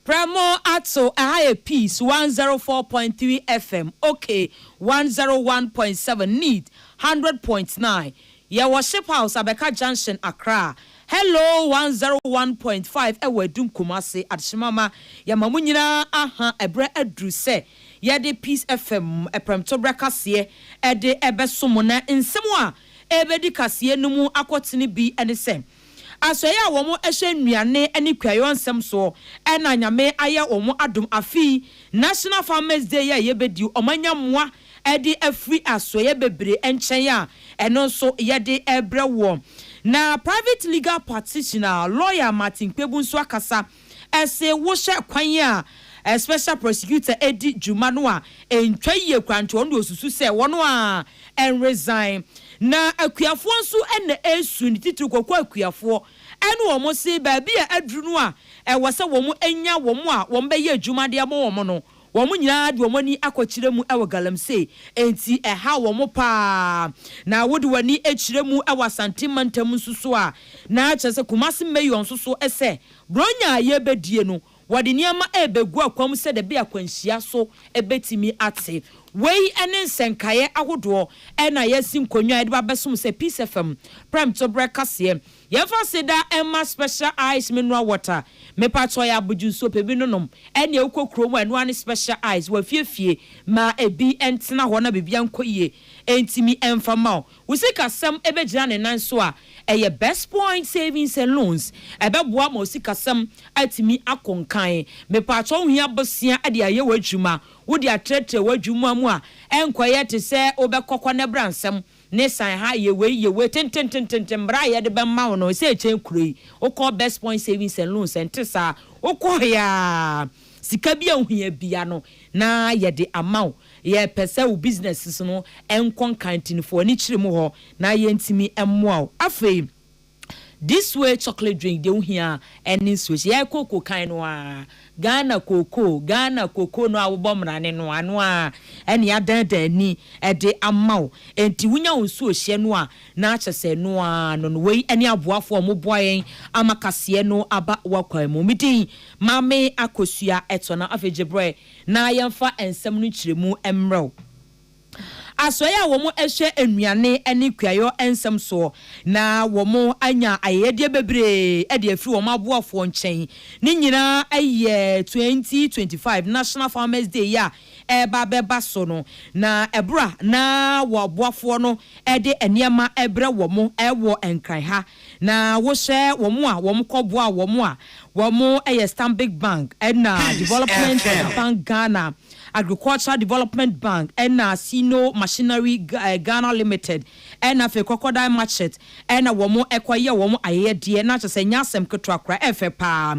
Prɛmo ato ɛha yɛ peace one zero four point three FM ok one zero one point seven need hundred point nine yɛ wɔ ship house abɛka junction accra hello one zero one point five ɛwɔ adum kumase adshemama yɛma mo nyinaa aha ɛbrɛ aduru sɛ yɛde peace FM ɛprɛmto brɛ kaseɛ ɛde ɛbɛso mo na nsɛm a ɛbɛdi kaseɛ no mu akɔtene bi ɛne sɛ Asoɛe a wɔn hyɛ nnuane ne kuayɔ nsɛm soɔ na Nyame ayɛ wɔn adom afei National Farmers Day a yɛbɛdi wɔn anya mmoa de afiri asoɛeɛ bebree nkyɛn a ɛno nso yɛde rebrɛ wɔn. Na Private Legal Practitioner, Lawyer, Martin Kpebu nso akasa. se wohwɛ kwan a Special Prosecutor edi dwuma no a, entwa yie koraa nti ɔno deɛ osusu sɛ wɔn ara nresign. Na Akuafoɔ nso na esu no titiriw Koko Akuafoɔ ne wɔn se baabi a aduru no a ɛwɔ sɛ wɔn nya wɔn a wɔbɛyɛ adwuma de ama wɔn no Wɔn nyinaa de wɔn ani akɔkyerɛ mu wɔ galamsey, enti ɛhaw wɔn paa. Na wode w'ani kyerɛ mu wɔ Asante mantam nso so a, na kyerɛ sɛ Kumasi Mayor nso so sɛ Buronya a yɛrebɛdie no, wɔde nneɛma rebɛgu akwan mu sɛdeɛ ɛbɛyɛ akwanhyia so bɛtumi ate. Wei ne nsɛnkaeɛ ahodoɔ na yɛasi nkonnwa a yɛde ba abɛsom sɛ Peace FM prɛmtoberɛ kaseɛ Yɛnfa seda mma special ice mineral water mepatsɔ yɛ abodwo nsuo pɛ bi nonom ɛnea wokɔ kuro mu a ɛno ara ne special ice wafiefie ma ebi ntena hɔ na biribia nkɔ yie ɛntimi ɛnfa mma wo wo sikasɛm ɛbɛgyina ne nan so a ɛyɛ best point savings and loans ɛbɛboa ama wo sikasɛm atumi akɔ nkan mepatsɔ wohia bosea de ayɛ w'adwuma wode atrɛtrɛ w'adwuma mu a ɛnkɔyɛ te sɛ wobɛkɔkɔ ne bra nsɛm Ne sign ha, yɛ wei, yɛ wei, tententententen, mmara a yɛde bɛma wo no, ɛsɛ ɛkyɛn kuro yi. Wokɔ Best Point Savings and Loans, ɛnte saa. Wokɔɔe a, sika bi a wohia bia no, na yɛde ama wo. Yɛpɛ sɛ wo businesses no nkɔ nkan nti no, fa w'ani kyerɛ mu hɔ na yɛntumi mmoa wo. Afei. This way chocolate drink deɛ wo hia ɛne nsuo hyɛ yɛn kooko kan no aa Ghana kooko Ghana kooko no a wobɔ mrane no ano aa ɛne yɛadaadaa ani ɛde ama wo ɛnti wo nya wo nsuo hyɛ no a na akyɛ sɛ ɛno aa no no wei ɛne aboafoɔ a ɔmo boa yɛn ama kaseɛ no aba wakwan mu me din Maame Akosua ɛtɔ na afei gye brɛ na yɛn fa nsɛm no nkyerɛmu ɛmrɛ wo. asoɛe a wɔahyɛ nnuane ne kuayɔ nsɛm soɔ, na wɔanya ayɛyɛdeɛ bebree de afiri wɔn aboafoɔ nkyɛn. Ne nyinaa yɛ twenty twenty five National Farmers Day yi a ɛreba abɛba so no, na ɛberɛ a na wɔn aboafoɔ no de nneɛma rebrɛ wɔn wɔ Nkran ha Na wohyɛ wɔn a wɔkɔboa wɔn a wɔyɛ Stanbic Bank ɛna Development Bank Ghana, Agricultural Development Bank ɛna Sino Machinery Ghana Limited ɛna afei Crocodile Marchet ɛna wɔn kɔyɛ wɔn ayɛyɛdeɛ na kyerɛ sɛ ɛnyɛ asɛm ketewa koraa, ɛfɛ paa.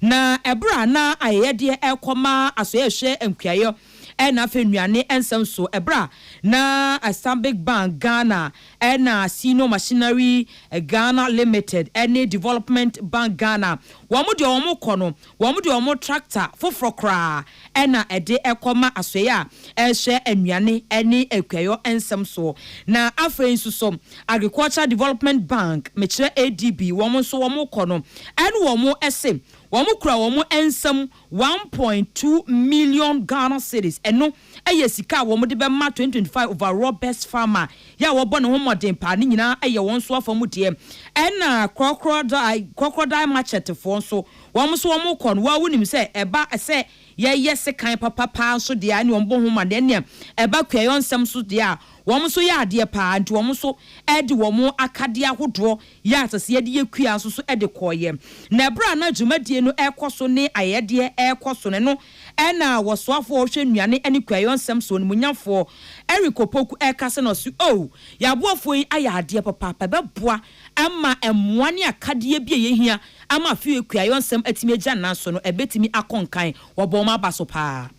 Na ɛberɛ a na ayɛyɛdeɛ rekɔma asɔeɛhwɛ nkuayɔ ɛna afei nnuane nsa nsuo ɛberɛ a na Stanbic Bank Ghana, Ɛna Sino Machinery Ghana Limited ne Development Bank Ghana, wɔn deɛ wɔn kɔ no, wɔn de wɔn tractor foforɔ koraa ɛna ɛde ɛkɔ ma asoɛeɛ a ɛrehwɛ nnuane ne akuayɔ nsɛm soɔ. Na afei nso so Agricultural Development Bank, mekyerɛ ADB, wɔn nso wɔn kɔ no, ɛne wɔn se wɔn kura wɔn nsam one point two million Ghana cedis, ɛno yɛ sika a wɔde bɛma twenty twenty five overall best farmer yɛ a wɔbɔ ne ho mmɔden paa, ne nyinaa yɛ wɔn nso afa mu deɛ. Ɛna Crocodile Crocodile Machete foɔ nso, wɔn nso wɔkɔ no, wo ara wonim sɛ ɛba sɛ yɛyɛ sekan papa paa nso deɛ a ɛne wɔn bɔ ho mmɔden, ɛnneɛ ɛba kuayɔ nsɛm nso deɛ a, wɔn nso yɛ adeɛ paa, nti wɔn nso de wɔn akadeɛ ahodoɔ Yɛ a ɛsɛ sɛ yɛde yɛ kua nso so de kɔeɛ. Na ɛberɛ a na dwumadie no rekɔ so ne ayɛyɛdeɛ rekɔ so no, ɛno na ɔsoafoɔ a ɔhwɛ nnuane ne kuayɔ nsɛm soɔ, Onimuonyafoɔ Eric Opoku rekasa na ɔse, Oh, yɛn aboafoɔ yi ayɛ adeɛ papaapa, ɛbɛboa ma mmoa ne akadeɛ bi a ɛyɛ hia ama afei a kuayɔ nsɛm atumi agya nan so no, ɛbɛtumi akɔ nkan. Wɔbɔ wɔn aba so pa ara.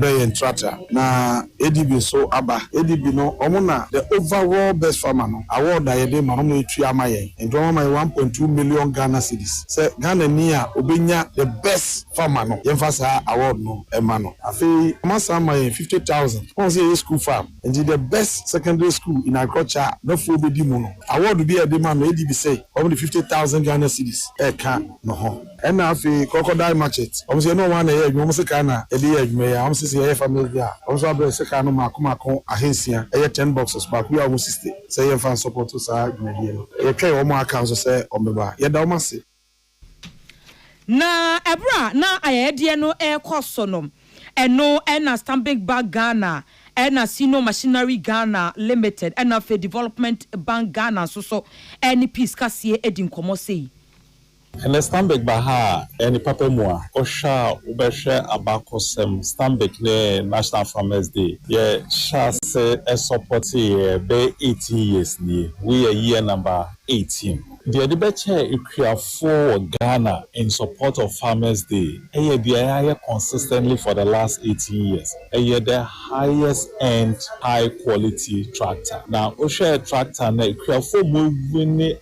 Bɛ yɛ ntrata na ADB nso aba. ADB no ɔmo na the overall best farmer no award a yɛde ma no ɔmo na etua ama yɛn. Nti ɔmo ama yɛn one point two million Ghana cedis sɛ Ghanani a obenya the best farmer no yɛnfa saa award no ɛma no. Afei ɔmo asan ama yɛn fifty thousand wɔn sɛ yɛyɛ school farm nti the best secondary school in agriculture a Mɛfoɔ bedi mu no award bi a yɛde ma no ADB sɛ ɔmo de fifty thousand Ghana cedis ɛka no ho. Ɛna afei crocodile market wɔn se ɛne wɔn na ɛyɛ adwuma wɔn sekaa na ɛde yɛ adwuma yi a wɔn se sɛ yɛyɛ family bi a wɔn nso abrɛ sekaa no maako maako ahansia ɛyɛ ten boxes baako biara wɔn sixty sɛ yɛn fa nsɔpɔto saa dwumadie no yɛtwɛn wɔn a aka nso sɛ wɔn bɛba yɛda wɔn ase. Na ɛberɛ a na ayɛyɛdeɛ no rekɔ so no ɛno ɛna Stanbic Bank Ghana ɛna Sino Machinery Ghana Limited ɛna afei Development Bank Ghana nso so ɛne Peace Kaseɛ ɛdi nkɔmmɔ sei. Ɛnɛ Stanbic ba ha a, ɛyɛ ne papa mu a. Wohwɛ a wobɛhwɛ abakɔsɛm Stanbic ne National Farmers Day. Yɛ hyɛ ase sɔpɔte yɛ bɛyɛ eighteen years nie. Wei yɛ year number eighteen. Deɛ yɛde bɛkyɛ akuafoɔ wɔ Ghana in support of Farmers Day yɛ deɛ yɛayɛ consistently for the last eighteen years. Ɛyɛ the highest end high quality tractor. Na wohwɛ tractor no a, akuafoɔ wɔawini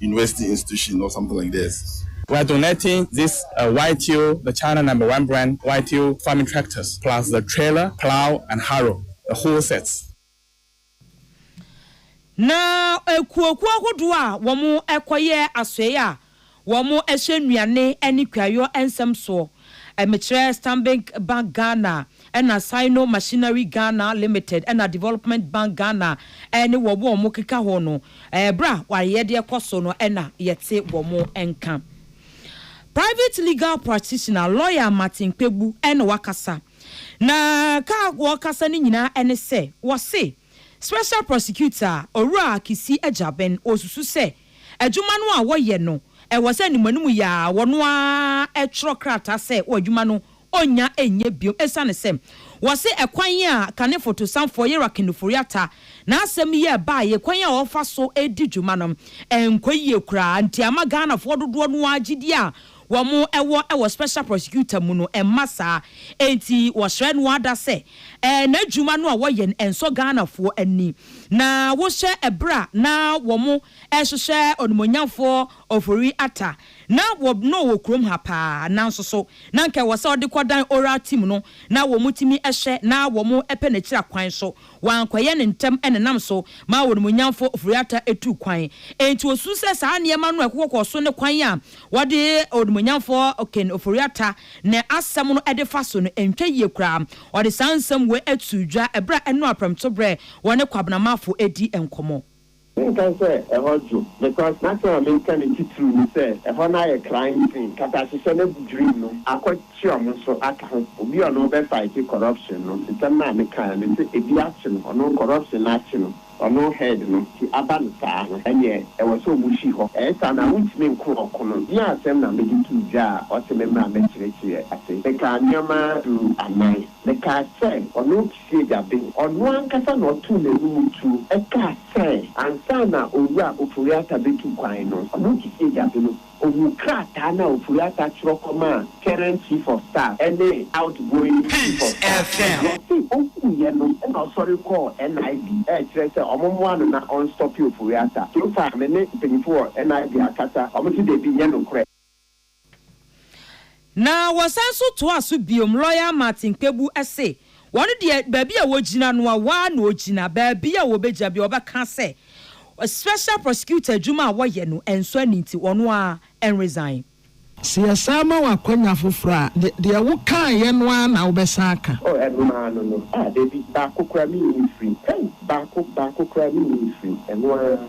university institution or something like this. We are donating this YTO the China number one brand YTO farming tractors plus the trailer, plow and harrow the whole set. Na akuokuo ahodoɔ a wɔkɔyɛ asoɛeɛ a wɔhyɛ nnuane ne kuayɔ nsɛm soɔ, mekyerɛ Stanbic Bank Ghana Ɛna Sino Machinery Ghana Limited ɛna Development Bank Ghana ɛne wɔn a wɔn keka ho no ɛberɛ a w'ayɛ deɛ kɔ so no ɛna yɛte wɔn nka. Private Legal Practitioner, Lawyer Martin Kpegbu ɛna wakasa na ka a wɔkasa no nyinaa ɛne sɛ wɔse Special Prosecutor Owura Kissi Agyabeng wɔsusu sɛ Adwuma no a wɔyɛ no, ɛwɔ sɛ animuanimu yi ara wɔn ara twerɛ krataa sɛ wɔn adwuma no ɔnnya nyɛ bio ɛsiane sɛ wɔse ɛkwan a kane fotosanfoɔ Yera Kenuforiata n'asɛm yi ɛbaeɛ kwan a ɔfa so di dwuma no nkɔ yie koraa nti ama Ghanafoɔ dodoɔ no ara gyedie a wɔn wɔ wɔ Special Prosecutor mu no mma saa enti wɔsrɛ no ada sɛ n'adwuma no a wɔyɛ no nsɔ Ghanafoɔ ani na wohyɛ ɛberɛ a na wɔn rehwehwɛ Onimuonyamfoɔ Ofori Atta na wɔ na ɔwɔ kurom ha paa nanso so na nka ɛwɔ sɛ ɔde kɔdan Oral Team no na wɔn tumi hyɛ na wɔn pɛ n'akyiri akwan so wɔankɔyɛ no ntɛm na ɛnam so maa wɔn Nuonyamfo Ofori-Atta tuu kwan. Enti osusuw sɛ saa nneɛma no a ɛkokɔ kɔɔ so ne kwan a wɔde Onuonyamfo Ken Ofori-Atta ne asɛm no de fa so no ntwa yie koraa. Ɔde saa nsɛm wei too dwa bere a ɛno ara prɛmtoberɛ wɔne Kwabena Marfo redi nkɔmmɔ. Menkae sɛ ɛhɔ dwo. Because n'asɛm a mereka no titiriw ne sɛ ɛhɔ no ayɛ krann sen nkatahyehyɛ no adwirim no akɔkye ɔmo nso aka ho. Obi a ɔno ɔbɛ fighte corruption no, nsɛm no a meka no sɛ ebi akye no, ɔno corruption no akye no, ɔno head no nti aba no saa no, ɛneɛ ɛwɔ sɛ ɔmo hwi hɔ. Ɛyɛ saa no a wontumi nko ɔko no. Bi a asɛm na mede too dwa a ɔse memmra mmɛkyerɛkyerɛ ase. Mekaa nneɛma du anan. Mekaa sɛ ɔno, Sega de, ɔno ankasa na ɔtoo n'anim tuo kaa sɛ ansa na Owura Ofori-Atta bɛtu kwan no, Kumuyi Sega de no, ɔhuu krataa no a Ofori-Atta twerɛ kɔmaa Current Chief of Staff ne Outgoing Chief of Staff no. Na ɔse ɔhuuiɛ no na ɔsɔre kɔɔ NIB rekyerɛ sɛ wɔmmoa no na ɔnstɔpe Ofori-Atta. So far me ne mpanyimfo wɔ NIB akasa, wɔse dabi, nyɛ nokorɛ. Na wɔsan nso toaa so bio, Lɔya Martin Kpebu se wɔn deɛ baabi a wɔgyina no a wɔa na ɔgyina, baabi a wɔbɛgyina biara wɔbɛka sɛ Special Prosecutor adwuma a wɔyɛ no ɛnsɔ ani nti ɔno ara ɛnresign. Sɛ yɛsan ma wo akwanya foforɔ a, de deɛ wo kaeɛ no ara na wobɛsan aka. Oh ɛno ara no no ah dabi baako koraa menni mfiri hey baako baako koraa menni mfiri ɛno ara.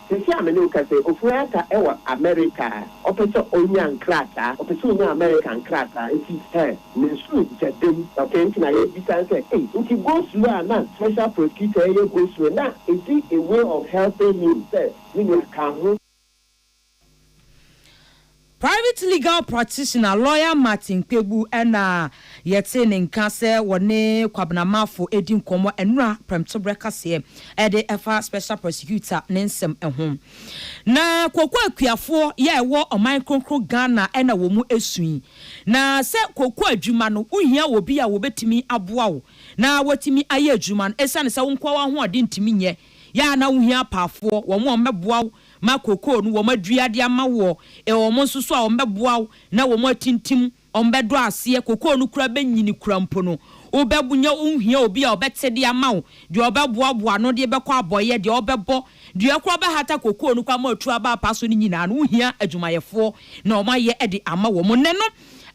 Sisi a me ne wo kasa yi, Ofori-Atta wɔ Amerika. Ɔpɛ sɛ onya nkrataa. Ɔpɛ sɛ onya Amerika nkrataa. Nti eh, ne nsow gya dam. Okay, nti na yɛrebisa no sɛ, ei, nti go slow a na Special Prosecutor reyɛ go slow na is it a way of helping him sɛ me nua ka ho? Private legal practitioner Lawyer Martin Kpebu na yɛtee ne nka sɛ wɔne Kwabena Marfo redi nkɔmmɔ nnora prɛmtoberɛ kaseɛ de fa Special Prosecutor ne nsɛm ho. Na Koko akuafoɔ yɛ a ɛwɔ ɔman kronkron Ghana na wɔ mu su yi. Na sɛ koko adwuma no wohia obi a wɔbɛtumi aboa wo na watumi ayɛ adwuma no ɛsiane sɛ wo nkoa w'ahoɔden ntumi nyɛ yɛ a na wohia apaafoɔ wɔn a wɔbɛboa wo ma cocoa no wɔadua de ama woɔ, ɛwɔ wɔn nso so a wɔbɛboa wo na wɔatintim, wɔbɛdɔ aseɛ, cocoa no koraa bɛnyini koraa mpo no, wobɛnya, wonhia obi a ɔbɛte de ama wo, deɛ ɔbɛboaboa ano de bɛkɔ abɔeɛ, deɛ ɔbɛbɔ, deɛ koraa ɔbɛhata cocoa no koraa ma watu aba apa so no nyinaa no, wohia adwumayɛfoɔ na wɔayɛ de ama wɔn. Nnɛ no,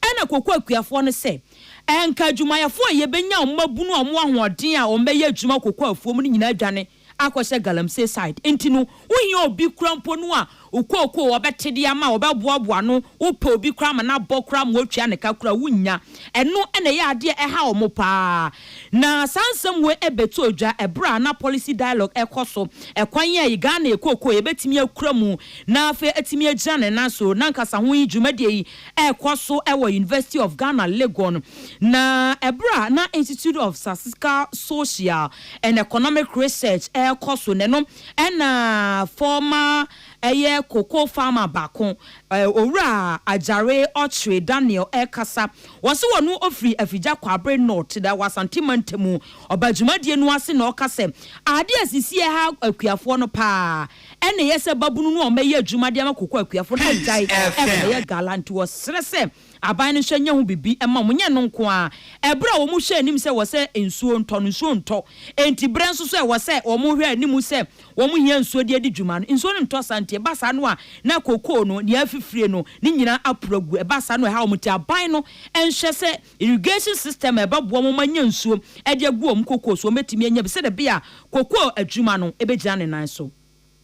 ɛna cocoa akuafoɔ no sɛ, anka adwumayɛfoɔ a yɛbɛnya wɔn abunu wɔn ahoɔden a wɔbɛyɛ adwuma cocoa afuom no nyinaa adwane, akɔhyɛ Galamsey side nti no wohia obi kora mpo no a okookoo ɔbɛte de ama ɔbɛboaboa ano wopɛ obi kora ma no abɔ kora ma woatua ne ka kora wonnya ɛno na ɛyɛ adeɛ a ɛha wɔn paa na saa nsɛm wei ɛbɛtu odwa ɛberɛ a na policy dialogue ɛkɔ so ɛkwan yi a Ghana yɛ kookoo yɛbɛtumi akura mu na afei atumi agyina ne nan so n'ankasa ho yi dwumadie yi rekɔ so wɔ University of Ghana Legon, na bere a na Institute of Statistical Social and Economic Research rekɔ so no, ɛno na former ɛyɛ cocoa farmer baako, Owura Agyare Ɔkyere Daniel rekasa. Wɔse wɔn ofiri Afigya Kwabre North, na wɔ Asante Mantamu. Ɔba dwumadie no ase na ɔka sɛ, Adeɛ a ɛsisi ha akuafoɔ no paa, Ɛna ɛyɛ sɛ babunu no a ɔmmɛyɛ adwuma de ama kokoa akuafo no agyae mmɛyɛ gala, nti wɔsrɛ sɛ aban no nhyɛ nyɛ ho biribi mma wɔn, nyɛ ɛno nko ara, bere a wɔhwɛ anim sɛ ɛwɔ sɛ nsuo ntɔ no, nsuo ntɔ, enti bere nso so a ɛwɔ sɛ wɔhwɛ anim sɛ wɔhia nsuo de adi dwuma no, nsuo no ntɔ saa, nti ɛba saa no a na kokoo no, nea afifirie no, ne nyinaa aporo agu, ɛba saa no a ɛhaw wɔn, nti aban no nhyɛ sɛ. irrigation system a ɛbɛboa wɔn anya nsuo de agu wɔn kokoo so, wɔbɛtumi anya bi sɛdeɛ ɛbɛyɛ a kokoo adwuma no bɛgyina ne nan so.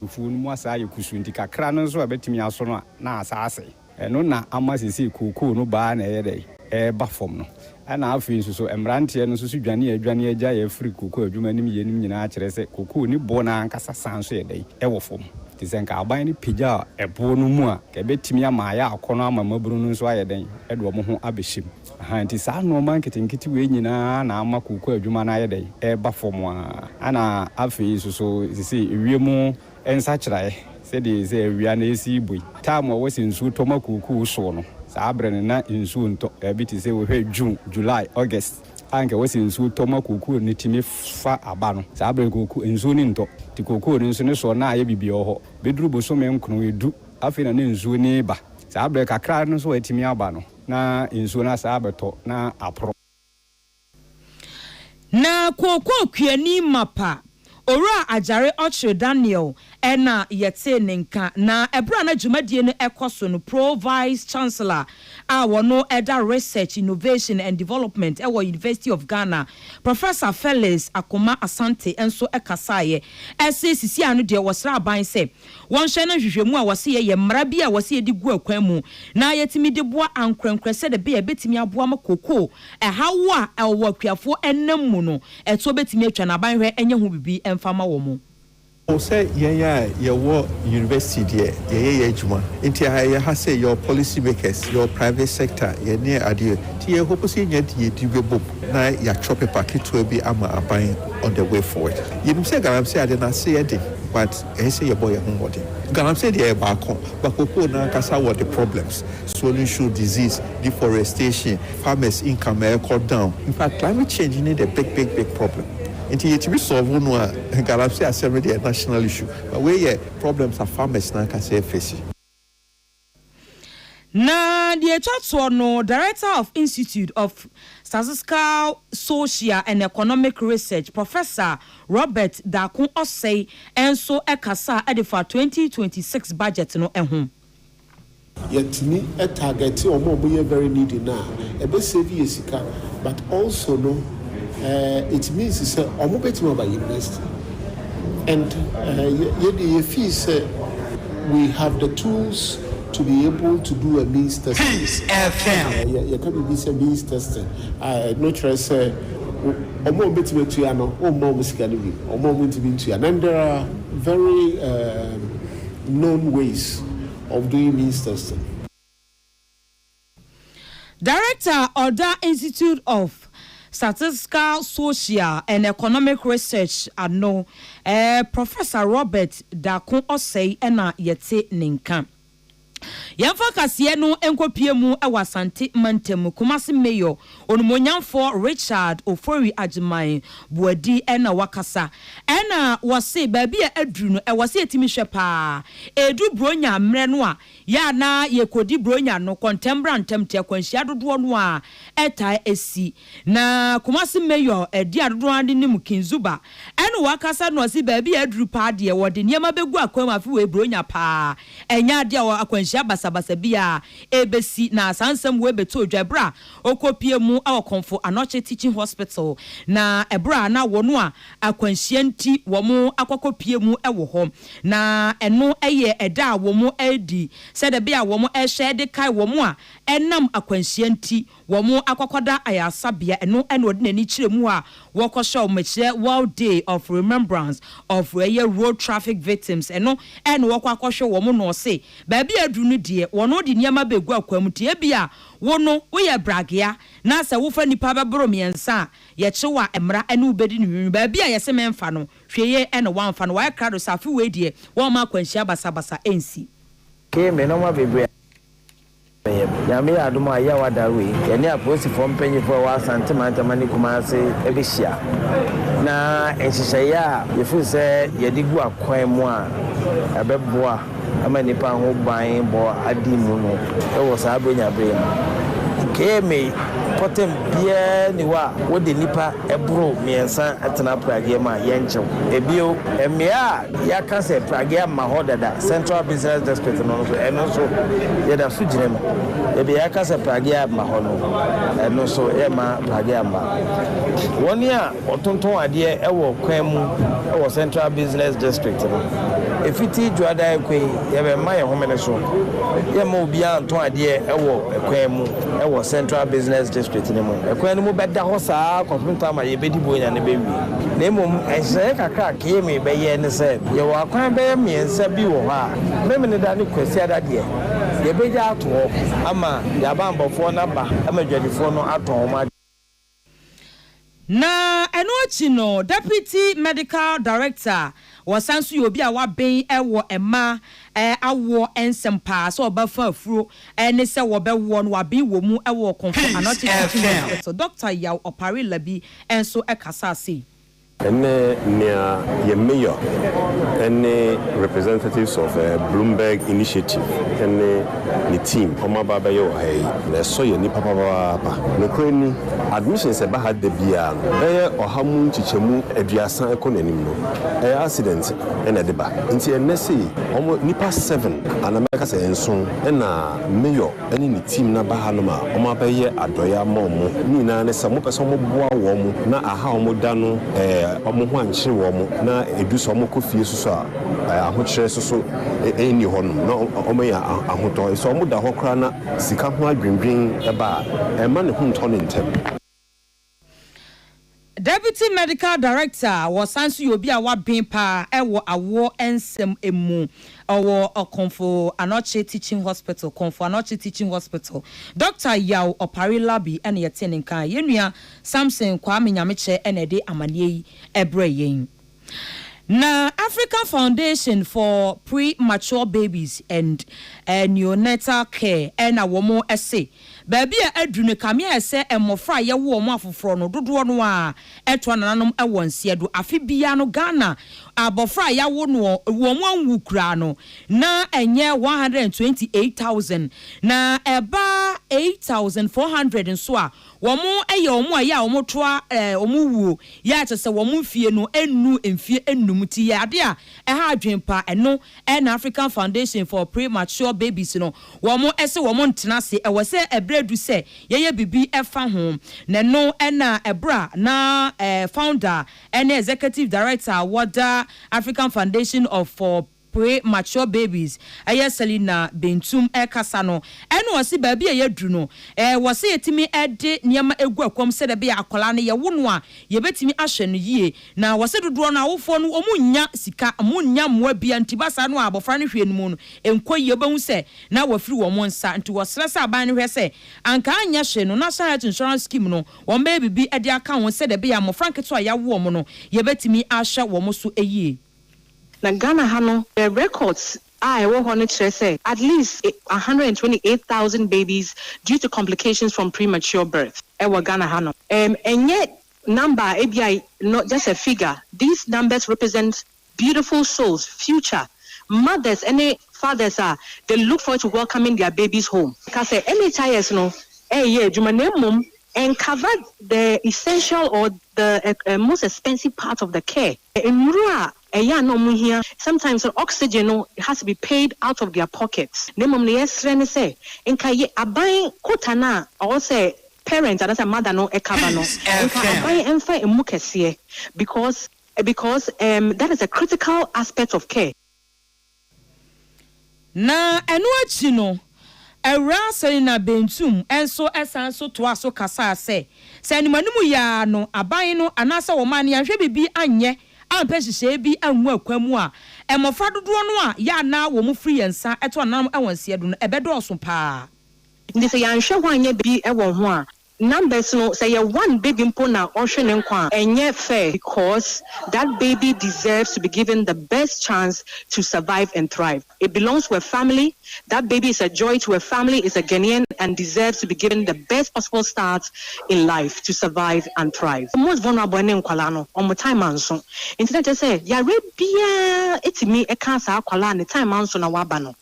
Afuo no mu asan ayɛ kusuu nti kakra no nso a ɛbɛtumi aso no a, na asan asɛe. Ɛno na ama seesei kokoo no baa na ɛyɛ dɛn? Ɛreba fam no. Ɛna afei nso so, mmeranteɛ no nso so dwane a adwane agyae afiri kokoo adwuma no mu yɛ no nyinaa kyerɛ sɛ kokoo no boɔ no ankasa san nso yɛ dɛn? Ɛwɔ fam. Te sɛ nka aban no pagyaa ɛboɔ no mu a, nka ɛbɛtumi ama ayɛ akɔnnɔ ama mmabunu no nso ayɛ dɛn? Ɛde wɔn ho abɛhyɛ mu. Aha, enti saa nnoɔma nketenkete wei nyina ara na ama kooko adwuma no ayɛ dɛn? Ɛreba fam ara. Ɛna afei nso so, seesei ewiem nsakyeraɛ, sɛdeɛ seesei awia no resi rebɔ yi, time a ɛwɔ sɛ nsuo tɔ ma kooko soɔ no, saa berɛ no na nsuo ntɔ. Baabi te sɛ, wohwɛ June, July, August, a anka ɛwɔ sɛ nsuo tɔ ma kookoo no tumi fa aba no, saa berɛ no kookoo, nsuo no ntɔ. Nti kookoo no nso ne soɔ no ayɛ bibia wɔ hɔ. Bɛduru bosome nkron, edu, afei na ne nsuo no reba. Saa berɛ kakra no nso a atumi aba no, na nsuo no asan abɛtɔ na aporo. Na kookoo kuani mapa Owura Agyare Ɔkyere Daniel na yɛtee ne nka, na bere a na dwumadie no rekɔ so no, Pro Vice Chancellor a ɔno da Research, Innovation and Development wɔ University of Ghana, Professor Felix Akomah Asante nso kasaeɛ. Ɛse sisi ano deɛ wɔsrɛ aban sɛ Wɔnhyɛ no nhwehwɛmu a wɔse yɛyɛ mmara bi a wɔse yɛde gu akwan mu na yɛtumi de boa ankorɛnkorɛ sɛdeɛ ɛbɛyɛ a ɛbɛtumi aboa ma koko ɛhaw a ɛwɔ akuafoɔ ɛnam mu no ɛtoɔ bɛtumi atwa na aban hwɛ nyɛ ho biribi mfa ma wɔn. O sɛ yɛn a yɛwɔ university deɛ yɛyɛ yɛn adwuma nti a yɛwɔ ha sɛ yɛwɔ policy makers, yɛwɔ private sector, yɛne adeɛ nti yɛ hope sɛ yɛnya deɛ yɛdi bɛbom na yɛatwerɛ paper ketewa bi ama aban on the way forward. Yɛnim sɛ galamsey adeɛ no aseɛ de but. Ɛyɛ sɛ yɛbɔ yɛn ho mmɔden. Galamsey deɛ ɛyɛ baako, but cocoa no ankasa wɔ the problems, swollen shoe disease, deforestation, farmers income ɛrekɔ down. In fact, climate change ne the big big big problem. Nti yɛtumi solve no a, galamsey asɛm no deɛ ɛyɛ national issue, but wei yɛ problems a farmers no ankasa ɛrefesi. Na deɛ ɛtwa toɔ no, Director of Institute of Statistical, Social and Economic Research, Professor Robert Darko Osei nso kasaa de faa twenty twenty six budget no ho. Yɛtumi target wɔn a wɔyɛ very needy no a, ɛbɛ save yɛn sika but also no it means sɛ wɔbɛtumi aba university. And yɛ deɛ yɛ feel sɛ we have the tools to be able to do a means testing. Yɛ ka biribi sɛ means testing a ɛno kyerɛ sɛ wɔn a wɔbɛtumi atua no wɔn mma wɔn sika no bi, wɔn a wɔntumi ntua. And there are very known ways of doing means testing. Director a ɔda Institute of Statistical Social and Economic Research ano, Professor Robert Darko Osei na yɛte ne nka. Yɛmfa kaseɛ no nkɔpue mu wɔ Asante Mantam, Kumasi Mayor Onumonyamfoɔ Richard Ofori Agyemang Boadi na wakasa na ɔse baabi a aduru no ɛwɔ sɛ yɛtumi hwɛ paa, ɛredu Buronya mmerɛ no a Yɛ a na yɛkɔdi Buronya no kɔntɛm-bra-ntɛm te akwanhyia dodoɔ no ara taa si. Na Kumasi Mayor di a dodoɔ no ara de nim King Zuba ɛne wɔn akasa na ɔse baabi a aduru paa deɛ wɔde nneɛma bɛgu akwan mu afe wei Buronya paa. Ɛnyɛ adeɛ a akwanhyia basabasa biara ɛbɛsi na saa nsɛm wei bɛtɔ odwa ɛberɛ a ɔkɔpie mu wɔ Komfo Anokye Teaching Hospital na ɛberɛ a na wɔn a akwanhyia nti wɔn akɔkɔpie mu wɔ hɔ, na ɛno yɛ ɛda a wɔn redi sɛdeɛ ɛbɛyɛ a wɔn rehwɛ de kae wɔn a ɛnam akwanhyia nti wɔn akɔkɔda ayarsabea, ɛno na ɔde n'ani kyerɛ mu hɔ a wɔkɔhyɛ wɔn, ɛkyerɛ World Day of Remembrance of ɛyɛ Road Traffic Victims, ɛno na wɔkɔ akɔhwɛ wɔn, na ɔse baabi a aduru no deɛ wɔn de nneɛma bɛgu akwan mu, nti ebia wo no woyɛ bragea na sɛ wofa nnipa bɛboro mmiɛnsa a Yɛkyew a mmra ɛne wo bedi no nwenwen baabi a yɛse menfa no hwee yie ɛne wamfa no wayɛ krado sɛ afe wei deɛ wɔmma akwanhyia basabasa ɛnsi. Kee me nɔma bebree a meyɛ no nyame yɛ adom a yaw ada wei yɛne apolisifoɔ mpanyinfoɔ a ɛwɔ Asante mantam ne Kumase ɛbɛhyia na nhyehyɛeɛ a yɛfiri sɛ yɛde gu akwan mu a ɛbɛboa Ama nnipa ho ban bɔ adi mu no wɔ saa Brenya bere yi mu. KMA mpɔtam biara nni hɔ a wode nnipa boro mmiɛnsa tena Pragea mu a yɛnkyɛw. Bio, mmea a yɛaka sɛ Pragea mma hɔ dada, Central Business District no nso, ɛno nso yɛda so gyina mu. Baabi a yɛaka sɛ Pragea mma hɔ no, ɛno nso yɛmma Pragea mma wɔn a. Wɔtontɔn adeɛ wɔ kwan mu wɔ Central Business District no. Ɛfiti Dwoada rekɔ yi, yɛbɛma yɛn homene so. Yɛremma obiara ntɔn adeɛ wɔ kwan mu wɔ Central Business District no mu. Kwan no mu bɛda hɔ saa ara kɔpem tam a yɛbɛdi Buonya no bɛwie. Na mmom nhyehyɛeɛ kakra a Kayame bɛyɛ ne sɛ, yɛwɔ akwan bɛyɛ mmiɛnsa bi wɔ hɔ a, Memeneda ne Kwasiada deɛ, yɛbɛgya ato hɔ ama yɛn abanbɔfoɔ no aba ma adwadifoɔ no atɔn wɔn adeɛ. Na ɛno akyi no, Deputy Medical Director, ɔsan nso yɛ obi a waben wɔ mma awoɔ nsɛm paa, sɛ ɔba fa afuro ne sɛ wɔbɛwoɔ no, waben wɔ mu wɔ Komfo Anɔte Teaching Hospital. Doctor Yaw Opare Labi nso kasaa sei. Ɛnnɛ nea yɛn mayor ne representatives of Bloomberg Initiative ne ne team wɔaba abɛyɛ wɔ ha yi, na ɛsɔ yɛn ani papapaapa. Nokorɛ ni, admissions a ɛba ha da biara no, bɛyɛ ɔha mu nkyekyɛmu aduasa ɛkɔ n'anim no, ɛyɛ accident na ɛde ba. Nti ɛnnɛ sei, wɔn, nnipa seven anaa mɛka sɛ nson na mayor ne ne team no aba hanom a wɔabɛyɛ adɔeɛ ama wɔn. Ne nyinaa ne sɛ wɔpɛ sɛ wɔboa wɔn na aha a wɔda no wɔn ho ankyere wɔn na ɛdu sɛ wɔkɔ fie nso so a ahokyerɛ nso so nni hɔnom na wɔanya ahotɔ. Sɛ wɔda hɔ koraa na sika ho adwendwen ba a, ɛmma ne ho ntɔ no ntɛm. Deputy Medical Director a ɔsan nso yɛ obi a waben paa wɔ awoɔ nsɛm mu wɔ Komfo Anokye Teaching Hospital, Komfo Anokye Teaching Hospital, Doctor Yaw Opare Labi na yɛtee ne nka. Yɛn nua Samson Kwame Nyamekyɛ na ɛde amaneɛ yi brɛɛ yɛn. Na African Foundation for Pre-Mature Babies and Neonatal Care na wɔn se baabi a aduru no kame ayɛ sɛ mmɔfra a yɛwo wɔn afoforɔ no dodoɔ no ara ɛtoa nananom wɔ nseɛ do. Afe biara no Ghana abɔfra a yɛawo no wɔn anwu koraa no na ɛnyɛ one hundred and twenty eight thousand na ɛba eight thousand four hundred nso a Wɔyɛ wɔn a yɛ a wɔtoa wɔn wuo yɛ a kyerɛ sɛ wɔn mfeɛ no nnu mfeɛ nnum nti yɛ adeɛ a ɛha adwene pa. Ɛno na African Foundation for Premature Babies no wɔse wɔn ntena ase. Ɛwɔ sɛ ɛberɛ du sɛ yɛyɛ biribi fa ho. Na ɛno na ɛberɛ a na Founder ne Executive Director a wɔda African Foundation of for Pre mature babies ɛyɛ Selina Bentum ɛkasa no ɛna ɔse baabi a yɛduru no ɛɛ wɔse yɛtumi ɛde nneɛma ɛgu ɛkɔm sɛdeɛ ɛbɛyɛ akwadaa no yɛwo no a yɛbɛtumi ahwɛ no yie na wɔse dodoɔ no awofoɔ no wɔn nnya sika wɔn nnya mmoa bia nti ba saa no a abɔfra no hwee no mu no ɛnkɔ yie wobɛhu sɛ na wafiri wɔn nsa nti wɔsrɛ sɛ aban no hwɛ sɛ anka anyɛ hwee no National Health Insurance Scheme no wɔn bɛyɛ biribi ɛde aka ho sɛdeɛ ɛbɛyɛ a mmɔfra nketewa a yɛawo wɔn no yɛbɛtumi ahwɛ wɔn so yie. Na Ghana ha no the records a ɛwɔ hɔ no kyerɛ sɛ at least one hundred and twenty eight thousand babies due to complications from premature birth ɛwɔ Ghana ha nom. Ɛm ɛnyɛ number a ebia no just a figure these numbers represent beautiful souls future mothers ɛne fathers a they look forward to welcoming their babies home. Ka sɛ NHIS no ɛɛyɛ adwuma na mmom ɛncover the essential or the ɛ ɛ most expensive part of the care. Nnuru a ɛyɛ a na wɔn hia, sometimes no oxygen no it has to be paid out of their pocket, na mmom nea yɛsrɛ ne sɛ nka yɛ aban kota no a ɔwɔ sɛ parent anaasɛ mother no cover no nka aban mfa mmu kɛseɛ because because um that is a critical aspect of care. Na ɛno akyi no, Awuraa Selina Bentum nso san so toaa so kasaa sɛ, sɛ animanim yɛ ara no aban no anaasɛ ɔman no yɛanhwɛ biribi anyɛ ampɛ nhyehyɛe bi angu akwan mu a, mmofra dodoɔ no a yɛ a na wɔfiri yɛn nsa to anananom wɔn nseɛdo no, ɛbɛdɔɔso pa ara. Enti sɛ yɛanhwɛ ho anyɛ biribi wɔ ho a, Numbers no sɛ yɛ one baby mpo na ɔhwe ne nkwa a ɛnyɛ fair because that baby deserves to be given the best chance to survive and thrive it belongs to a family that baby is a joy to a family is a Ghanaian and deserves to be given the best possible start in life to survive and thrive. The most vulnerable ne nkwadaa no wɔn time anso nti na kyerɛ sɛ yareɛ biara tumi ka saa akwadaa a ne time anso na waba no.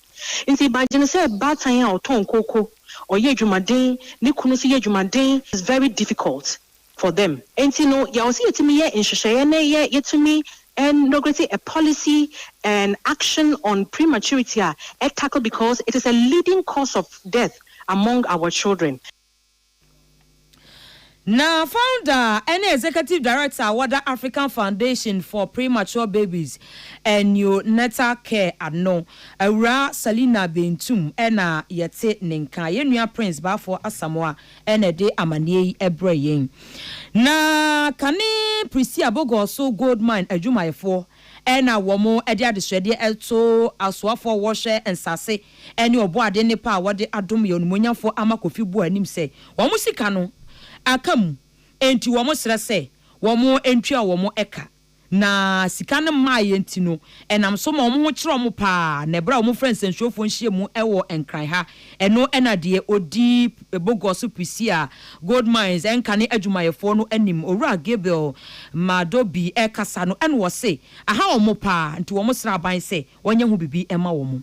Ntsi ebadwen sɛ baatan a ɔtɔn kooko, ɔyɛ edwumaden, ne kun so yɛ edwumaden is very difficult for them. Ntsi no yɛwɔ sɛ yɛtumi yɛ nhyehyɛɛ na yɛ yɛtumi inaugurate a policy and action on prematurity a ɛ tackle because it is a leading cause of death among our children. Na founder ne executive director a wɔda African Foundation for Premature Babies and Neonatal Care ano, Awuraa Salina Bentum na yɛte ne nka. Yɛn nua Prince Baffour Asamoah na ɛde amanneɛ yi brɛɛ yɛn. Na kane Prisia Bogorso Gold Mine adwumayɛfoɔ na wɔde adesrɛdeɛ to asoafoɔ a wɔhwɛ nsase ɛne ɔbɔadeɛ nnepa a wɔde adom yɛn onimuonyamfoɔ ama Kofi Buah anim sɛ wɔn sika no aka mu enti wɔsrɛ sɛ wɔn ntua wɔn ka na sika no mmaeɛ nti no ɛnam so ma wɔn ho kyere wɔn paa na ɛberɛ a wɔfrɛ nsɛnsuofoɔ nhyiamu wɔ Nkran ha ɛno na deɛ ɔdi Bogos Prisia Gold Mines nkane adwumayɛfoɔ no anim Owura Gabriel Madobi rekasa no na ɔse aha wɔn paa nti wɔsrɛ aban sɛ wɔnyɛ ho biribi mma wɔn.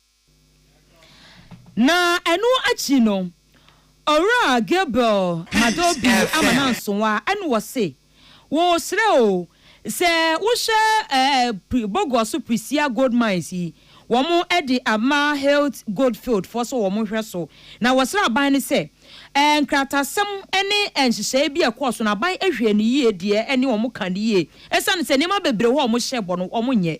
Na ɛno akyi no, Owura Gabriel Madobi ama no ansowa ɛna ɔse, Wɔresrɛ o, sɛ wohwɛ ɛɛ Boguaso Prisia Gold Mines yi, wɔde ama Hilt Goldfield foɔ sɛ wɔhwɛ so. Na wɔsrɛ aban no sɛ, ɛɛ nkratasɛm ne nhyehyɛeɛ bi a ɛkɔɔ so no, aban hwɛ no yie deɛ ɛne wɔn ka no yie, ɛsiane sɛ nneɛma bebree wɔ hɔ a wɔhyɛ bɔ no wɔnyɛ.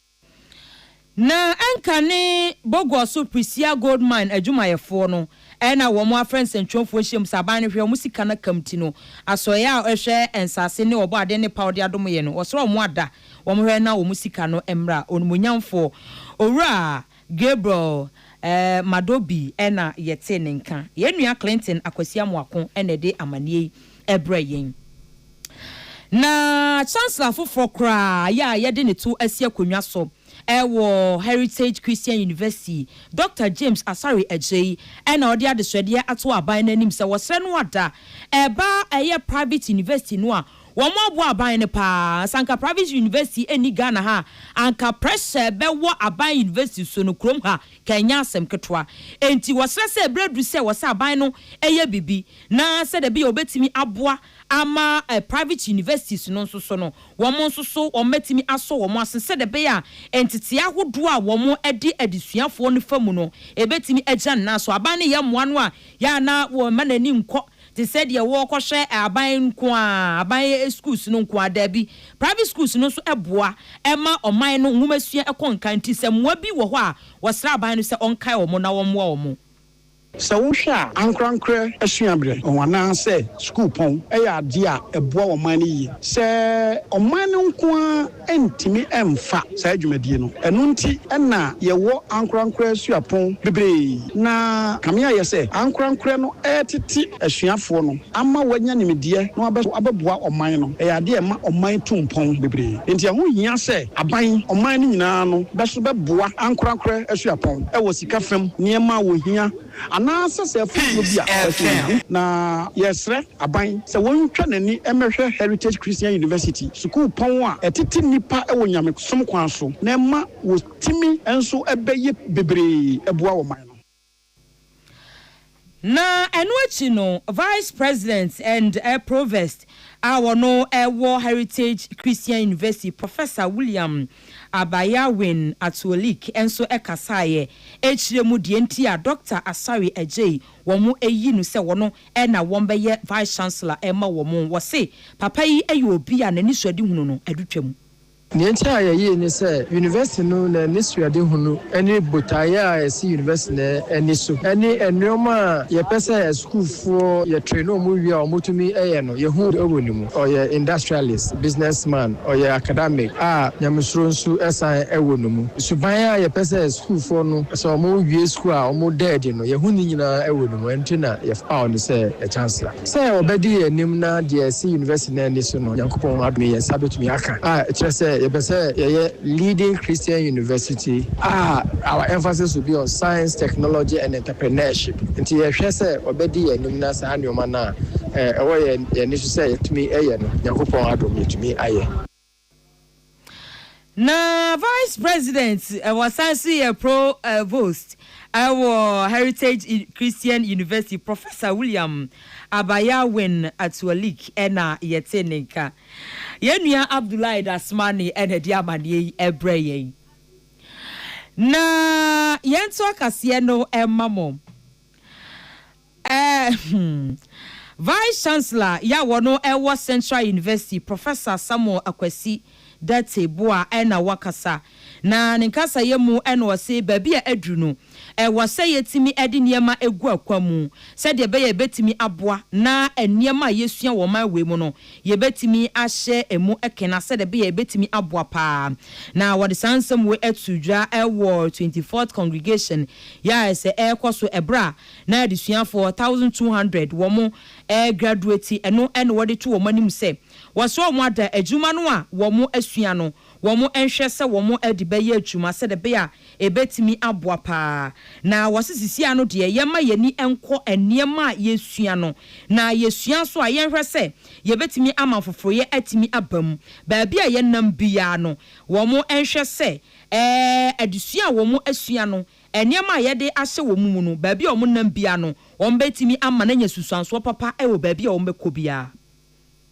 Na ɛnka ne Bogor so Prisia Gold Mine adwumayɛfoɔ no na wɔn afrɛ nsɛntwerɛfoɔ nhyiam sɛ aban no hwɛ wɔn sika no akam ti no asɔeɛ a ɛhwɛ nsase ne ɔbɔ adeɛ ne paw de adom yɛ no wɔsrɛ wɔn ada wɔn hwɛ na wɔn sika no mmra onimuonyamfoɔ Owura Gabriel eh Madobi na yɛtee ne nka. Yɛn nua Clinton Akwasi Amoako na ɛde amanneɛ yi brɛɛ yɛn. Na Chancellor foforɔ koraa yɛ a yɛde ne to asi akonnwa so wɔ Heritage Christian University, Dɔkta James Asare Agyei na ɔde adesrɛdeɛ ato aban no anim sɛ wɔsrɛ no ada ba ɛyɛ private university no a Wɔn aboa aban no paa. Sɛ anka private university nni Ghana ha a, anka pressure bɛwɔ aban university so no kurom ha ka ɛnyɛ asɛm ketewa. Enti wɔsrɛ sɛ berɛ adu sɛ wɔsɛ aban no yɛ biribi na sɛdeɛ ɛbɛyɛ wɔbɛtumi aboa ama private universities no nso so no wɔn nso so wɔn bɛtumi asɔ wɔn asen sɛdeɛ ɛbɛyɛ a ntetee ahodoɔ a wɔn de adesuafoɔ no fa mu no ɛbɛtumi agyina ne nan so. Aban no yɛ mmoa no a yɛ a na wɔmma n'ani nkɔ te sɛ deɛ wɔrekɔhwɛ aban nko ara, aban sukuus no nko ara, daabi. Private sukuus no nso boa ma ɔman no nwomasua kɔ nkan nti sɛ mmoa bi wɔ hɔ a, wɔsrɛ aban no sɛ ɔnkae wɔn na ɔmmoa wɔn. Sɛ wohwɛ a, ankorankorɛ suaberɛ anaasɛ sukuupɔn yɛ adeɛ a ɛboa ɔman no yie. Sɛ ɔman no nko ara. ntumi mfa saa dwumadie no. Ɛno nti na yɛwɔ ankorankorɛ suapɔn bebree na kame ayɛ sɛ ankorankorɛ no retete asuafoɔ no ama wɔanya nimdeɛ na wɔabɛ so abɛboa ɔman no. Ɛyɛ adeɛ a ɛma ɔman tu mpɔn bebree. Enti ɛho hia sɛ aban, ɔman no nyinaa no bɛ so bɛboa ankorankorɛ asuapɔn wɔ sika fam, nneɛma a wɔhia, Anaasɛ sɛ afotuo bi a ɔhyɛ no nhu na yɛresrɛ aban sɛ wɔntwa n'ani mmɛhwɛ Heritage Christian University, sukuupɔn a ɛtete nnipa wɔ nyamesom kwan so na ɛma wɔtumi nso bɛyɛ bebree boa ɔman no. Na ɛno akyi no, Vice President and Provost a ɔno wɔ Heritage Christian University, Professor William. Abayawen Atuolik nso kasaeɛ ɛkyirɛ mu deɛ nti a Dɔkta Asare Agyei wɔn ayi no sɛ wɔn na wɔn bɛyɛ Vice Chancellor ma wɔn. Wɔse papa yi yɛ obi a n'anisuadehunu no adu twa mu. Deɛ nti a yɛyie ne sɛ University no n'anisuadehunu ne botaeɛ a ɛsi University no ani so ne nnoɔma a yɛpɛ sɛ asukuufoɔ yɛ train wɔn wie a wɔtumi yɛ no. Yehu dɛ ɔwɔ no mu. Ɔyɛ industrialist, business man, ɔyɛ acadamic a nyamesuro nso san wɔ no mu. Suban a yɛpɛ sɛ sukuufoɔ no sɛ wɔwie sukuu a wɔda adi no, yɛhu ne nyinaa wɔ no mu. Ɛno nti na yɛpaw no sɛ Chancellor. Sɛ ɔbɛdi yɛn anim na deɛ ɛsi University no ani so no, Nyankopɔn adom yi, yɛn nsa bɛtumi aka. A ɛkyerɛ sɛ yɛpɛ sɛ yɛyɛ leading Christian university a our emphasis will be on science, technology and enterprise. Partnership, nti yɛhwɛ sɛ ɔbɛdi yɛn anim na saa nnoɔma no a ɛwɔ yɛn ani so sɛ yɛtumi yɛ no, Nyankopɔn adom yɛtumi ayɛ. Na Vice President wɔ san so yɛ Provost wɔ Heritage Christian University, Professor William Abayawin Atualik na yɛtee ne nka. Yɛn nua Abdullahi Dasmani na ɛde amaneɛ yi brɛ yɛn. Na yɛnto akaseɛ no mma mo. Ɛɛ hmm. Vice Chancellor yɛ a wɔno ɛwɔ Central University, Professor Samuel Akwasi Dartey Boah ɛna wakasa. Na ne nkasayɛ mu ɛna ɔse baabi a aduru no, Ɛwɔ sɛ yetumi de nneɛma gu akwan mu sɛnea ɛbɛyɛ a ebetumi aboa na nneɛma a yesua wɔ ɔman wei mu no, yebetumi ahyɛ mu kena sɛnea ɛbɛyɛ a ebetumi aboa paa. Na wɔde saa nsɛm wei too dwa wɔ Twenty Fourth Congregation yi a ɛsɛ ɛrekɔ so bere a na adesuafo one thousand two hundred wɔregraduate no na wɔde to wɔn anim sɛ wɔsrɛ wɔn ada adwuma no a wɔasua no wɔnhwɛ sɛ wɔde bɛyɛ adwuma sɛdeɛ ɛbɛyɛ a ɛbɛtumi aboa pa ara. Na wɔse seesei ara no deɛ, yɛmma yɛn ani nkɔ nneɛma a yɛsua no, na yɛsua nso a, yɛnhwɛ sɛ yɛbɛtumi ama afoforoyɛ atumi aba mu. Baabi a yɛnam biara no, wɔnhwɛ sɛ adesua a wɔasua no, nneɛma a yɛde ahyɛ wɔn mu no, baabi a wɔnam biara no, wɔbɛtumi ama no anya nsunsuansoɔ papa wɔ baabi a wɔbɛkɔ biara.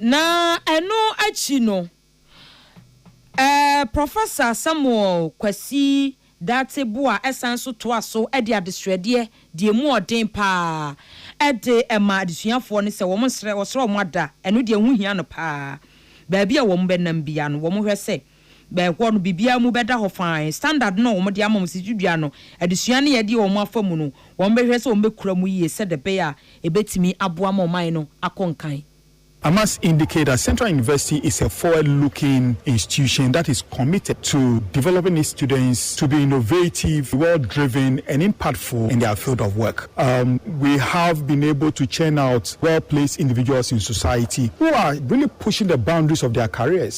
Na ɛno akyi no, eh, Professor Samuel Kwasi Dartey Boah san nso toa so de adesrɛdeɛ de ɛmu ɔden pa ara de ma adesuafoɔ no sɛ wɔn nsrɛ, wɔsrɛ wɔn ada, ɛno deɛ ɛho hia no pa ara. Baabi a wɔbɛnam biara no, wɔhwɛ sɛ. bɛn hɔ no biribiara mu bɛda hɔ fann. Standard no a wɔde ama wɔn sintidua no, adesua no a ɛde wɔn afa mu no, wɔbɛhwɛ sɛ wɔbɛkura mu yie sɛdeɛ ɛbɛyɛ a ɛbɛtumi aboa ma ɔman no akɔ nkan. Amas indicate that Central University is a forward-looking institution that is committed to developing its students to be innovative, well-driven and impactful in their field of work. Um, we have been able to churn out well-placed individuals in society who are really pushing the boundaries of their careers.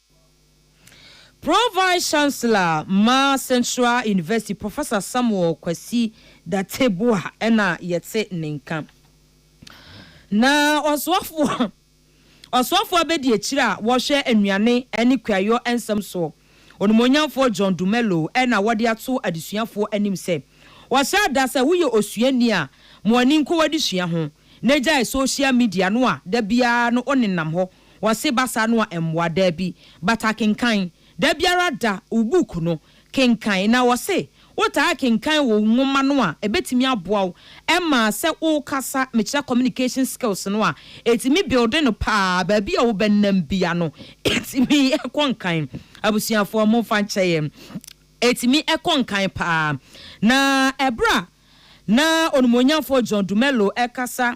Pro Vice Chancellor ma Central University Professor Samuel Kwasi Dateboa na yɛte ne nka. Na ɔsoafoɔ ɔsoafoɔ abɛdiakyire a wɔhwɛ nnuane ne kuayɔ nsɛm soɔ Onimuonyamfoɔ John Dumelo na wɔde ato adesuafoɔ anim sɛ wɔhyɛ da sɛ woyɛ osuani a mo ani nkɔ w'adesua ho na gyae social media no a da biara no wonenam hɔ Wɔse ba saa no a mmoa. Daabi, but akenkan. Da biara da wo book no kenkan. Na wɔse wotaa kenkan wo nwoma no a, ɛbɛtumi aboa wo ma sɛ wokasa, mekyerɛ communication skills no a, ɛtumi build no paa. Baabi a wobɛnam bia no, ɛtumi kɔ nkan. Abusuafoɔ, momfa nkyɛ yɛn. Ɛtumi kɔ nkan paa. Na ɛberɛ a na Onimuonyamfoɔ John Dumelo rekasa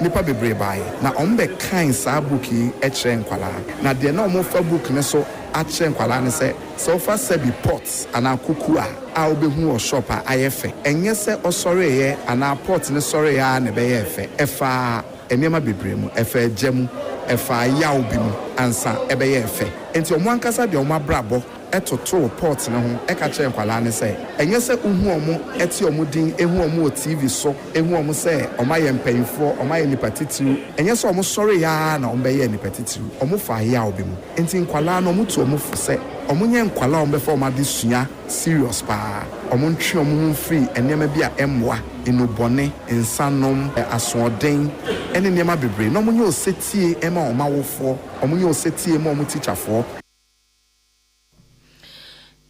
Nnipa bebree baeɛ na wɔbɛkaee saa book yi kyerɛɛ nkwadaa. Na deɛ na wɔfa book no so akyerɛ nkwadaa ne sɛ, sɛ wofa sɛbi, pot, anaa kuku a a wobɛhu wɔ shop a ayɛ fɛ. Ɛnyɛ sɛ ɔsɔreeɛ anaa pot no sɔreeɛ ara na ɛbɛyɛɛ fɛ. Ɛfaa nneɛma bebree mu. Ɛfaa gya mu. Ɛfaa yaw bi mu ansa ɛbɛyɛɛ fɛ. Enti wɔn ankasa de wɔn abrabɔ totoo pɔt no ho ka kyerɛɛ nkwadaa no sɛ, Ɛnyɛ sɛ wohu wɔn, te wɔn din, hu wɔn wɔ TV so, hu wɔn sɛ wɔayɛ mpanimfoɔ, wɔayɛ nnipa titiriw. Ɛnyɛ sɛ wɔsɔreeɛ ara na wɔbɛyɛɛ nnipa titiriw. Wɔfaa yaw bi mu. Enti nkwadaa no, wɔtu wɔn fo sɛ wɔnyɛ nkwadaa a wɔbɛfa wɔn adesua serious paa. Wɔntwe wɔn ho mfiri nneɛma bi a ɛmmoa, nnubɔne, nsanom, asoɔden, ne nneɛma bebree, na wɔnyɛ osetie mma wɔn awofoɔ, wɔnyɛ osetie mma wɔn tikyafoɔ.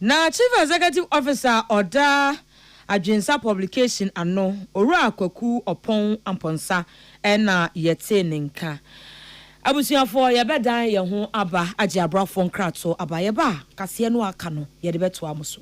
Na Chief Executive Officer a ɔda Adwensa Publication ano, Owura Kwaku Ɔpɔn Amponsah na yɛtee ne nka. Abusuafoɔ, yɛbɛdan yɛn ho aba agye abrafoɔ nkratoɔ aba. Yɛba a, kaseɛ no a aka no, yɛde bɛtoa mo so.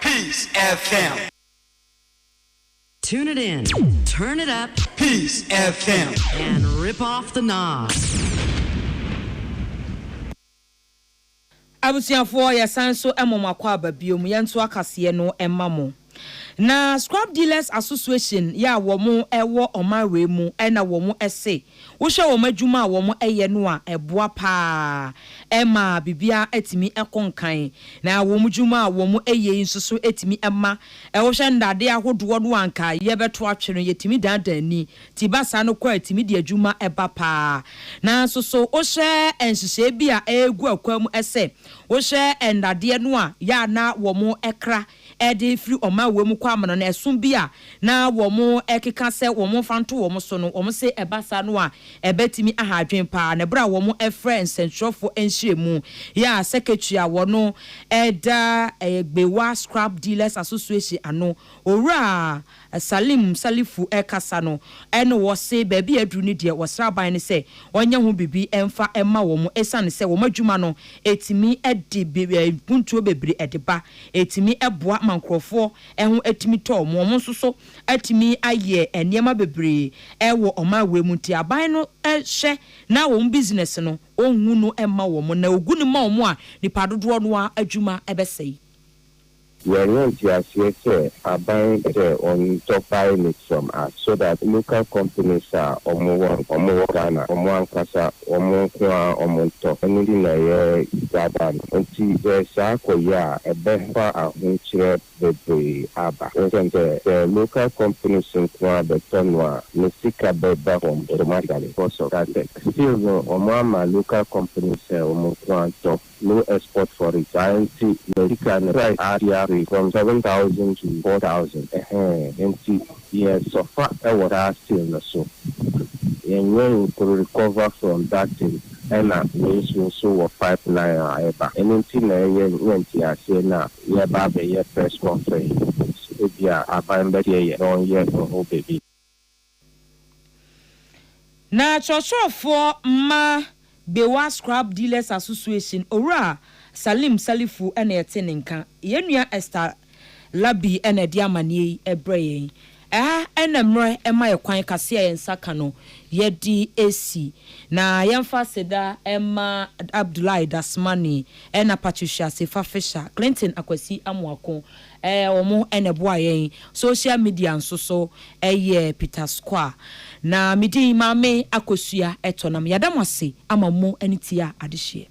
Peace FM. Tune it in, turn it up. Peace FM. And rip off the knob. Abusuafoɔ yɛsan nso ma mo akwaaba biom yɛnto akaseɛ no ma mo na Scrap Dealers Association yɛ a wɔn wɔ ɔman wei mu ɛna wɔn se Wohwɛ wɔn adwuma a wɔyɛ no a, ɛboa paa. Ɛma biribiara tumi kɔ nkan, na wɔn adwuma a wɔyɛ yi nso so tumi ma wohwɛ nnade ahodoɔ no a anka yɛbɛto atwe no, yɛtumi dandan ani. Ti ba saa no kɔ a, ɛtumi de adwuma ba paa. Nanso so wohwɛ nhyehyɛeɛ bi a ɛregu akwan mu sɛ wohwɛ nnadeɛ no a, yɛ a na wɔkra ɛde firi ɔman wei mu kɔ amena no, ɛso bi a na wɔkeka sɛ wɔmfa nto wɔn so no, wɔse ɛba saa no a, ɛbɛtumi aha adwene pa ara. Na berɛ a wɔfrɛ nsɛntwerɛfoɔ nhyiamu yi a Secretary a ɔno da Gbewa Scrap Dealers Association ano, Owura. Salim Salifu rekasa no na ɔse baabi a aduru no deɛ wɔsrɛ aban no sɛ ɔnyɛ ho biribi mfa mma wɔn ɛsiane sɛ wɔn adwuma no ɛtumi de mpuntuo bebree de ba, ɛtumi boa ma nkorɔfoɔ ho tumi tɔ wɔn, wɔn nso so atumi ayɛ nneɛma bebree wɔ ɔman wei mu nti aban no hwɛ na wɔn business no ɔnhu no mma wɔn na ɔgu no ma wɔn a nnipa dodoɔ no ara adwuma bɛsɛe. Yɛanya nteaseɛ sɛ aban sɛ wɔn tɔ pilot from us so that local companies a wɔn wɔ no wɔn wɔ Ghana wɔn ankasa wɔn nko ara wɔn ntɔ ɛno nti na yɛ gather no nti sɛ saa kɔ yɛ a ɛbɛ fa ahokyerɛ bebree aba ɛsiane sɛ sɛ local companies nko ara bɛ tɔ no a ne sika bɛ ba fam automatically because of that tech still no wɔn ama local companies sɛ wɔn nko ara ntɔ. no export for it saa nti na sika no price ate afe from seven thousand to four thousand ɛhɛɛ nti yɛ sɔfa wɔ saa still no so yɛ nyɛ nko recover from that thing ɛna wei so nso wɔ pipe line a ɛba ɛno nti na ɛyɛ nyɛ nteaseɛ na yɛ ba abɛyɛ press conference yi ebia aban bɛteɛ yɛ na ɔnyɛ ho biribi. Na kyerɛkyerɛfoɔ mma Bewa Scrap Dealers Association Owura Salim Salifu na ɛte ne nka. Yɛn nua Esther Labi na ɛde amaneɛ yi brɛ yɛn. Ɛha na mmerɛ ɛma yɛ kwan kase a yɛn nsa ka no yɛde ɛsi. Na yɛmfa aseda mma Abdullahi Dasmani ɛna Patricia Sefa Fisher, Clinton Akwasi Amoako, Ɛyɛ wɔn na ɛboa yɛn. Social media nso so yɛ Peter Square. Na me din Maame Akosua Ɛtɔ nam. Yɛada mo ase ama mo ani tia adehyeɛ.